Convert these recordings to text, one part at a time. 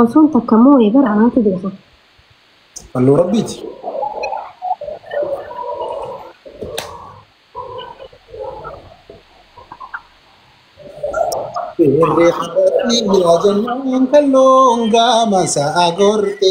Osoon takka moo'ee bara anaatu beeka. Fannoo rabbiiti. Irree hararrii bira jennaan kalloon gaama sa'a gorte.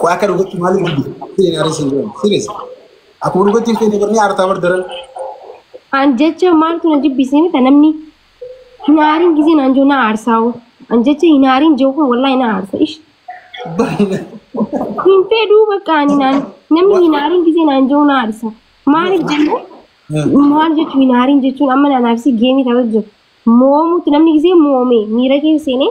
Ko akka dhugatti maaliif dide? Sireen arii siin jedhamu. Sireen. Akkuma dhugatti hin feene barnee aartaa bar daran. An jecha maaltu na jibbisee mita namni hin aariin gisee naan jiru na aarsaa'u. An jecha hin aariin jiru kun wallaahi na aarsa. Ish Baay'ina. hin fedhuu bakka ani naan namni hin aariin gisee naan jiru na aarsa. Maaliif jennee? maal jechuun hin haariin jechuun amma naanaaf si geemii ta'uu jiru. Moomuutti namni gisee moomee miira keessa seenee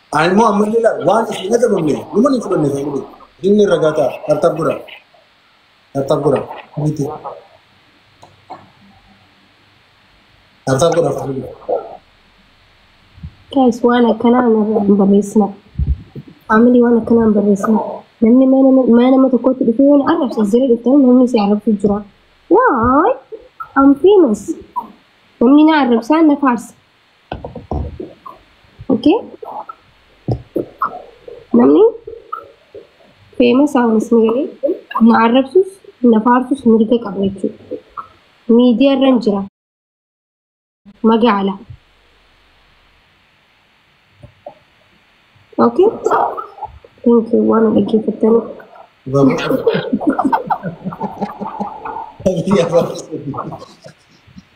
Ani immoo ammallee laal waan isin hin ajabamne numan hin fudhanne ta'e godhe. Dinni irra gata tartab gura. Tartab gura. Miti. Tartab gura fudhu. Guys, waan akkanaa narraa hin barreessina. Family waan akkanaa hin barreessina. Namni mana mana nama tokkotti dhufee waan arrabsa jira dhuftan namni si arrabsu jira. Why? I'm famous. Namni na arrabsaa na faarsa. Okay. Namni famous haawunis ni galee na arrabsus na faarsus mirga qaba jechuudha. Miidiyaa irra hin jira. Magaala. Okay. Thank you. Waan na dhaggeeffattaniif. Baruun.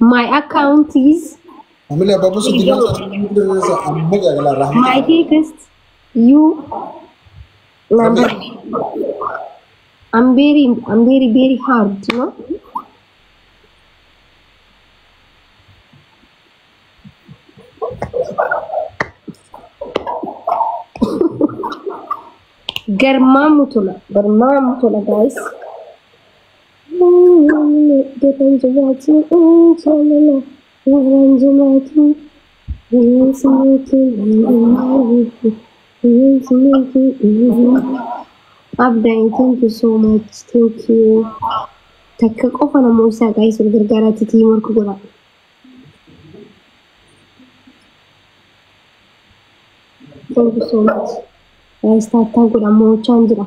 My account is Amila babu si dina sa mudin sa amma ga gala rahmi. my text you number. I'm very I'm very very hard, you know. Garmaamu tola, garmaamu tola guys. Namni deebiin jiraachuu jaalala warreen jiraachuu bineensi mootii bineensi mootii Abdai thank you so much thank you takka qofa namoo isaa qaayisuuf gargaaraa titii morku godha thank you so much guys taattaa godha moochaan jira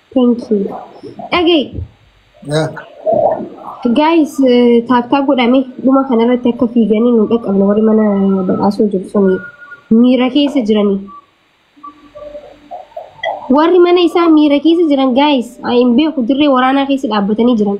Thank you. Dhaga'i. Guys, taaftaa godhame dhuma kanarratti akka fiiganii nu dhaqqabne warri mana badhaasoo jiru sun miira keessa jiranii. Warri mana isaa miira keessa jiran guys, hin beeku dirree waraanaa keessa dhaabbatanii jiran.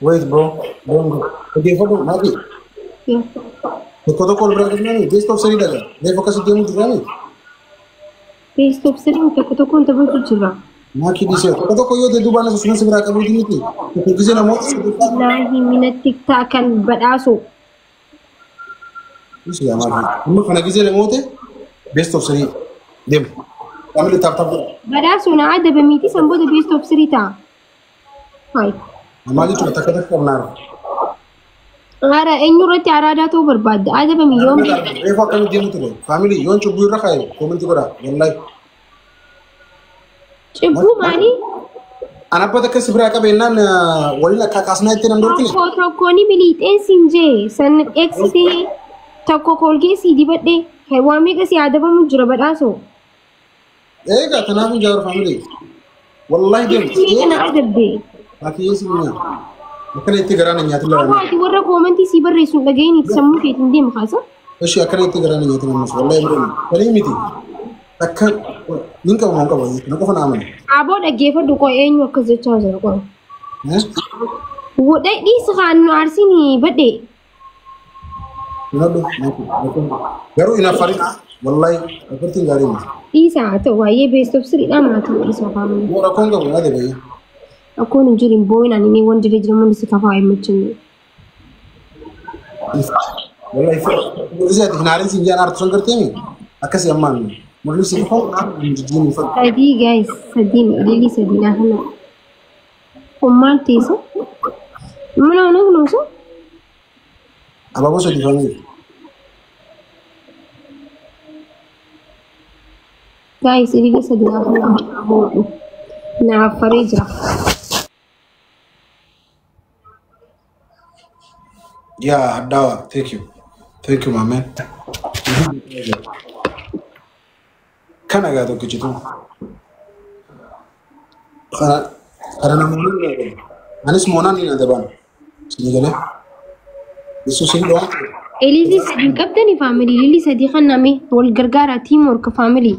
Wait bro, don't go. Dhaggeeffadhu, Nabi. Tokko tokko ol bira deemnani, geest of sanii daga. Reef akkasi deemu jirani. Teessoof sireen tokko tokkoon taphatu jira. Maaki dhiisee. Tokko tokko yoo ta'e duubaan isa sunan si biraa qabuu miti. Tokko gisee namoota si biraa. Laahi minatti ta'a kan badhaasu. Dhiisu yaa maaki. Amma kana gisee namoota beest of sanii deemu. Qaamni taaptaaf godha. Badhaasu na adaba miti san booda beestoof sirii ta'a. Hayi. Amaa jechuudha takka takka qabnaarra. Ara eenyu irratti araadaa ta'uu barbaadda? Adabami yoom beekta? Reefu akkana jennu ture. Faamilii yoon cubbuu irra kaaye koomentii godhaa. Wallahi. Cibbuu maali? An abba takka si biraa qabeennaan waliin akka kaasnaa itti nan dorkine. Tokko tokko ni miliixee siin jee san eegsisee tokko koolgeesii dibadhee kan waan meeqa si adabamu jira badhaasoo. Eega kanaafuu jaawar faamilee. Wallaahi deemu. Itti kana adabde. Ati yeessi miyaa. Akkana itti garaan hin nyaatin Amma laala. ati warra koomentii sii barreessu hin dhaga'iin itti sammuu keetiin deemu kaasa. Eshi akkana itti garaan hin nyaatin ammas. Wallaahi hin deemu. Walii miti. Akka nin qabu moo hin qabu. Na qofa na amana. Aboo dhaggeeffadhu qoy eenyu akkas jechaa jira qoy. Eh? Wodhee dhiisa kaan nu aarsiin badhee. Nyaadhu. Garuu hin affarin. Wallahi affartiin gaarii miti. Dhiisa haa ta'u baay'ee beest of siriidhaa maatii dhiisa faamuu. Yoo rakkoon qabu yaada bahi. Rakkoon hin jiru hin boo'in ani ni wanti irra jira mul'isi kafaa hin muchinne. Wallahi mul'isi ati hin haarin siin jaan aartu sun gartee mi? Akkasii ammaan mul'isi kafaa hin jijjiin hin fadhu. Sadii gaayis sadii ililii sadii naa kanaa. Ummaan teessa. Mana mana kunuunsa. Abaaboo sadi famiif. Gaa'is ilile sadi gaafa lama abaaboo. Naaf faree jira. Yeah, Hadawa. Thank you. Thank you, my man. Kan agaa tokkichi tun. Kana kana namoonni ni adaban. Anis moonaan ni adaban. Sini galee. Yesuus hin dhawaan. Elizii sadii hin qabdani faamilii. Lilii sadii kan name wal gargaara tiimwork faamilii.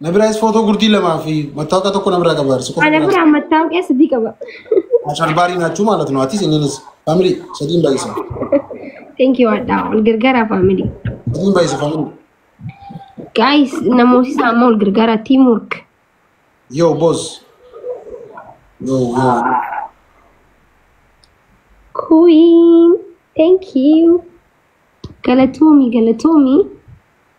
Na biraas footoo gurdii lamaa fi mattaawqaa tokko na biraa qabaarsi qofa Ana biraa. biraa mattaawqee sadii qaba. Asharbaarii naachuu maalatu nu atis inninis faamilii sadiin baay'isa. Thank you Adhaa. Wal gargaaraa faamilii. Sadiin baay'isa faamilii. Guys namooti isaa amma wal gargaaraa team work. Yoo boos. Yoo yoo. Queen. Thank you. Galatoomi galatoomi.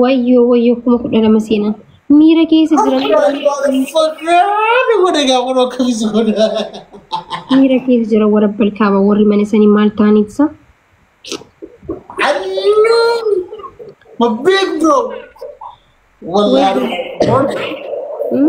Wayyoo wayyoo kuma kudha lama seenan. Miira keessa jiran miira keessa jira warra balkaaba warri mana sanii maal ta'anii ibsa. Hmm?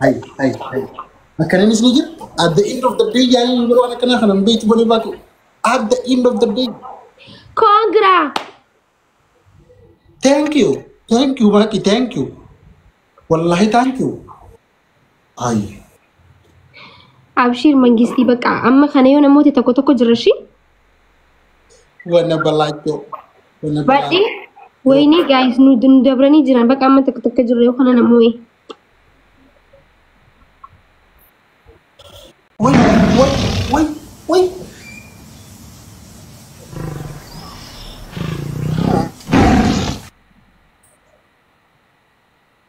Hay, hay, hay. Akkananis ni jira. At the end of the day yaaliin yeroo waan akkanaa kana hin beektu bonee baatu. At the end of the day. Koongira. Thank you. Thank you Maaki. Thank you. Wallahi thank you. Ayi. Abshiir mangistii bakka amma kana yoo namooti tokko tokko jira shi. Wanna balaachoo. Wanna Baay'ee wayinii gaayis nu nu dabranii jiran bakka amma tokko tokko jirra yoo kana namoo ee. Wai, wai, wai, wai.